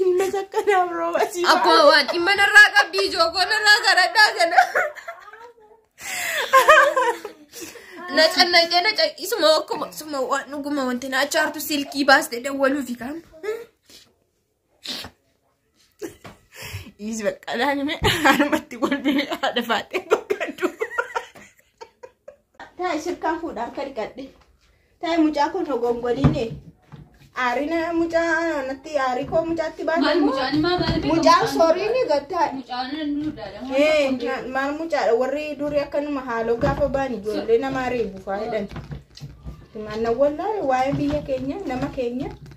Ilma takka naaf rooba si Abbaa waan dhimma narraa qabdi ijoo koo narraa saradhaa kana. Na cannaqee na caqisuma akkuma suma waan dhuguma wanti na achaartu silkii baaste dawwaluufi kan. Dhiisi bakka laani mee harmatti kolfine haadha faaxee boqqaddu. Taa shirkaan fuudhaa akka dhiqadhe. Taa mucaa kun rogongoliine. Aarina mucaa natti aarii koo mucaatti Maal baate. mucaan maa maal beeku? Mucaan soriin gattaa. Mucaan nu daadama. Ee, na- maal mucaadha warri durii akkanuma haaloo gaafa ba'an ijoollee namaa reebu faayidan. Maannan wallaahi waa'ee biyya keenya nama keenya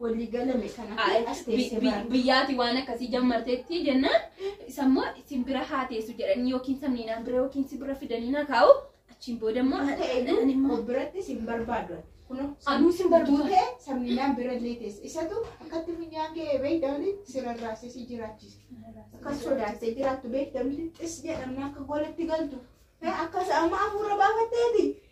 Walii galame kana Ay, as bi- teessee bi- bara. biyyaati waan akkasii jammarteetti jennaan isa immoo isin bira haa teessu jedhanii yookiin samniinaan bira yookiin si bira fidanii na kaa'u achiin booda immoo Maal ta'e ani immoo biratti sin barbaadu. Kunoo Anuu sin barbaadu. duutee sabninaan bira illee teesse. Isatu akkatti minyaan kee beekdamni sirarraasee si jiraachise. Akka sodaattee jiraattu beekdamni xis jedhamna akka golatti galtu. Akka amma hafuura baafatteeti.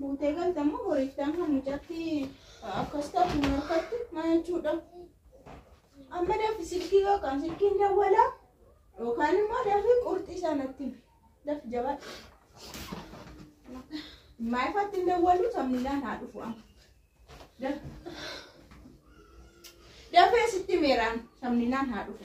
Buutee galta moo boriiftaan kan mucatti akkas taatu hin harkatti maa jechuudha. Amma dafi silkii yookaan silkiin dawwala yookaan immoo dafi qurxii sanatti himi. dafi jabaadha. Maa ifatti hin dawwalu sammilaan haa dhufu amma. Dafi. Dafee sitti meeraan sammilaan haa dhufu.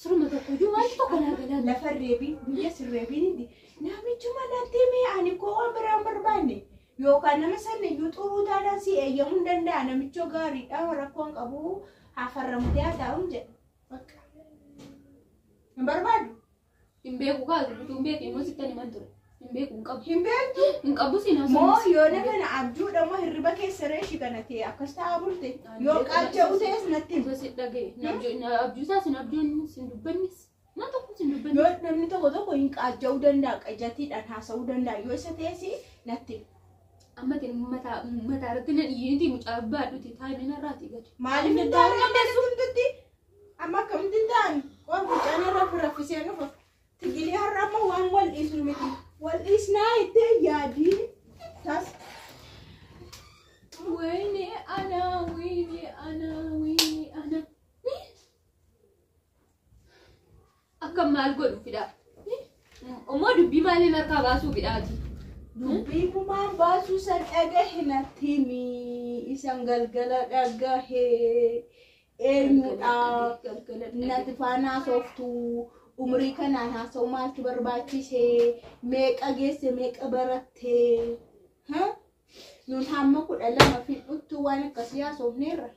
Suruma tokko iyyuu wanti tokko naa galaan. Lafa reebii biyya sirreebii ni namichuma natti mee ani koo waan biraan barbaanne yookaan nama sanni iyyuu xuruu taanaan si eeyyamuu hin danda'a namichoo gaariidha rakkoon qabu hafarramtee haa taa'uun jedha. Bakka. Hin barbaadu. Hin beeku kaa dubbatu hin beeku immoo sittan himan ture. Hin beeku hin qabu. Hin beektu. Hin qabu siin haasofne. Moo yoona kana abjuudha moo hirriba keessa reeshi kana ta'e akkas ta'aa bulte. Yoo qaacha utees natti hima. Isa si dhagaye. Na abjuu- na abjuusaa sin abjuun sin dubbannes. Na tokko sin dubbanne. Yoo namni tokko tokko hin qaaja'uu danda'a qajatiidhaan haasa'uu danda'a yoo isa ta'es natti hima. Amma ati mataa mataa irratti na dhiyeeti mucaa baadhuti taa'imina irraati gadi. Maaliif hin taane amma hundatti amma akkamitti hin taane waan mucaan irra raffisee nufa. Tigilii har'a ammoo waan wal dhiisnu miti. Wal dhiisnaa itti yaadii tas. Wayne ana, wayne ana, wayne ana. Akka maal godhu fidhaa? Ommoo dubbii maaliin harkaa baasuu fidhaati? Dubbii kumaan baasuu san dhagahe natti himi. Isan galgala dhagahe. eenyudha nati faana haasoftu umrii kanaan haasa'u maaltu barbaachise meeqa geesse meeqa baratte ha? nun hamma kudha lama fidhuttu waan akkasii haasofneerra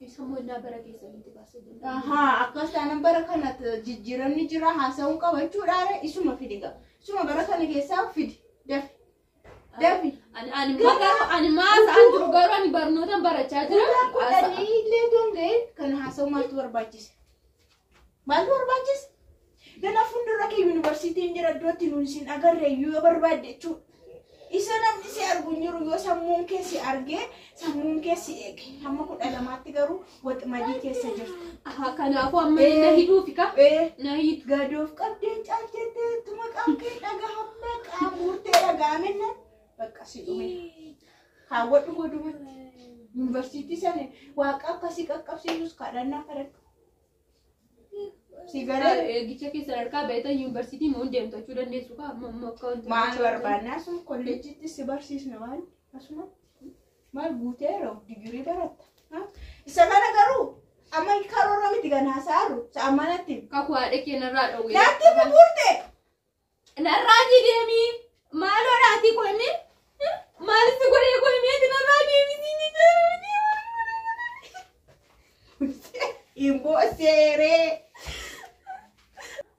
Isa mollaa bara keessanitti baasee jira. Ahaa, akkas taanaan bara kana jijjiiramni jira haasa'uu qabachuudhaan isuma fidi qaba. Isuma bara kana keessaa fidi dafi. Dafi. Ani ani magaruu ani maasa an jiru garuu ani barnootan barachaa jira. Guyyaa kudhanii illee otoo hin ga'iin kan haasa'u maaltu barbaachise? Maaltu barbaachise? Dana fuuldura kee yuunivarsiitiin jira iddootti nuun isin agarre iyyuu yoo barbaadde jechuudha. Isa namni si argu hin jiru yoo sammuun kee si argee sammuun kee si eege. Hamma kudha lamaatti garuu Waxmadii keessa jirta. Aha, kanaafuu amma Eh. na hidhuufi ka? Ee, Na hidhu. gadoof qabdee caalteettee tuma qaamkee dhagahamma qaamurtee dhagaamenna bakka si dhume. Kaawwadhu godumatti. Yuunivarsiitii sana waaqa akkasii qaqqabsiisus kadhannaa kadhadhu. Si galee Eegicha keessa sadarkaa beektan yuunivarsiitii moo hin deemtu jechuu dandeessu ka? Amma amma akka wanti- maal barbaannaa sun kolleejjiitti si barsiisna waan asuma. Maal guutee yeroo digirii baratta? Ha? Isa kana garuu amma karoora miti kan haasa'aru sa'aan manatti. Kakuu haadha kee narraa dhowwee. Natti buburte! Narraa deemi. Maaloo dhaatii koo himee? Maalitti godhee koo himeeti narraa deemi. Imboo seeree!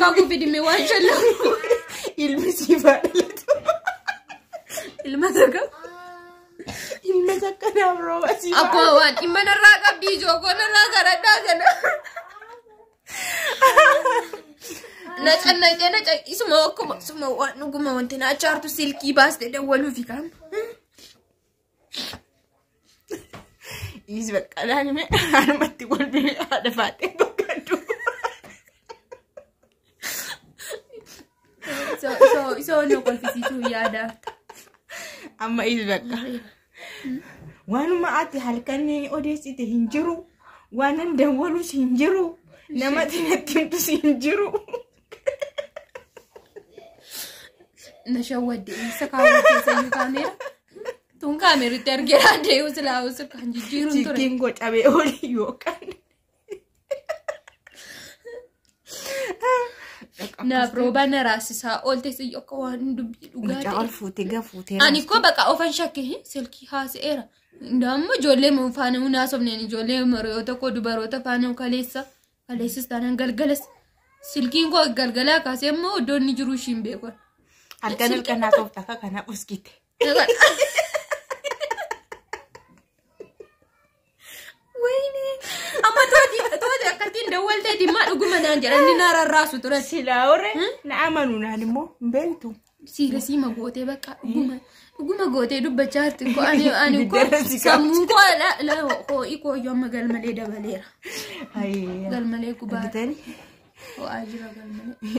Kakuu fidime waan shallam. Ilmi siif haa dhalatu. Ilma takka. Ilma takka naaf rooba siif haa Abbaa waan dhimma narraa qabdi ijookoo narraa garadhaa kana. Na cannaqee na caqisuma akkuma suma waan dhuguma wanti na achaartu silkii baaste dawwaluufi kan. Dhiisi bakka laani mee anumatti kolfine haadha baatee boqqaddu. Isoo- isoo- Isoo nu kolfisiisuu yaada. Amma dhiisi bakka. Waanuma ati halkan odeessite hin jiru. Waanan dawwalus hin jiru. Namatti natti himtus hin jiru. na shawwadde isa kaawwa keessa iyyuu kaameera tun kaameeritti argeera dee'u silaa usu kan jijjiiruun ture Jiggiin gocamee olii yookaan. naaf roobaa na raasisaa oolte siyyoo akka waan dubbii dhugaa Mucaa ol ta'e fuutee gafuutee. ani koo baqa ofan shakke silkii haasa'eera Indaammoo ijoollee mun faana mun haasofneen ijoollee maroo tokko dubaroota faana kaleessa Kaleessas taanaan galgalas silkiin koo galgalaa kaasee immoo iddoo inni jiru ishiin beekan. Halkan halkan naa toofta akka kana uskite. Wayne amma tooti tooti akkattiin dawwalteeti maa dhuguma naan jedhan ni naa rarraasu turan. Silaa warre na amanu naan immoo hin beektu. Siila siima gootee bakka dhuguma dhuguma gootee dubbachaa jirti koo ani ani koo Ibiddarra si sammuu koo la la hoo'i koo iyyuu amma galmalee dabaleera. Galmalee gubaa. Bitani. Ho'aa jira galmalee.